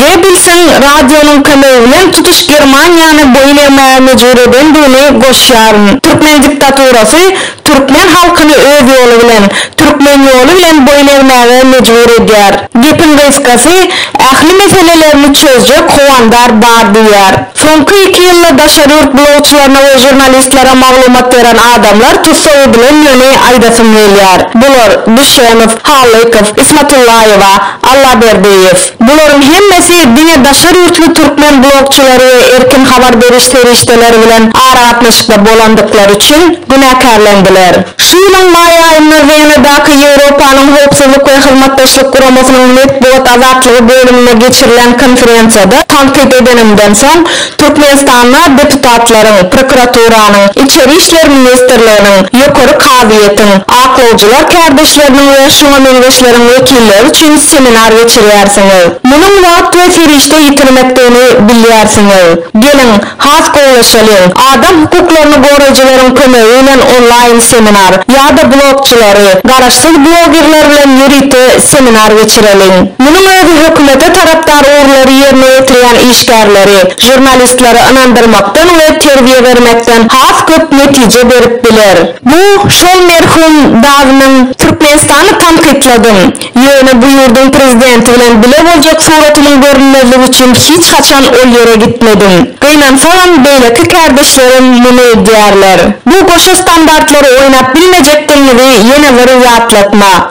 Gebbelsiň radionyň kömegi bilen tutuş Germaniýany boýun egmäge mejbur edendigini goşýaryn. Türkmen diktaturasy türkmen halkyny öz ýoly bilen, türkmen ýoly bilen boýun egmäge mejbur edýär. Gepiň gysgasy, ähli meselelerini çözjek howandar bar diýýär. Soňky iki ýylda daşary ýurt blogçylaryna we žurnalistlere maglumat beren adamlar tussag edilendigini aýdasym gelýär. Bular, Düşenow, Halykow, Ismatullaýewa, Allaberdiýew. Bularyň hemmesi diňe daşary ýurtly türkmen blogçylary we erkin habar beriş serişdeleri bilen aragatnaşykda bolandyklary üçin günäkärlendiler. Şu ýylyň maý aýynda Wenadaky Ýewropanyň Howpsuzlyk we Hyzmatdaşlyk Guramasynyň Metbugat azatlygy bölüminde geçirilen konferensiýada tankyt edenimden soň, Türkmenistanda deputatlaryň, prokuraturanyň, Içeri işler ministrliginiň, Ýokary kazyýetiň, aklawjylar kärdeşleriniň we şuňa meňzeşleriň wekilleri üçin seminar geçirýärsiňiz. Munuň wagt we serişde ýitirmekdigini bilýärsiňiz. Geliň, has gowlaşalyň. Adam hukuklaryny goraýjylaryň kömegi bilen onlaýn seminar, ýa-da blogçylary, garaşsyz blogerler bilen ýörite seminar geçireliň. Munuň özi hökümete tarapdar ugurlary ýerine ýetirýän işler. işgärleri, žurnalistleri ynandyrmakdan we terbiýe bermekden has köp netije berip biler. Bu şol merhum dadynyň Türkmenistany tankytladym, ýöne bu ýurduň prezidenti bilen bile boljak suratymyň görünmezligi üçin hiç haçan ol ýere gitmedim. Gynansagam beýleki kärdeşlerim muny edýärler. Bu goşa standartlary oýnap bilmejekdigiňizi ýene bir ýatlatma.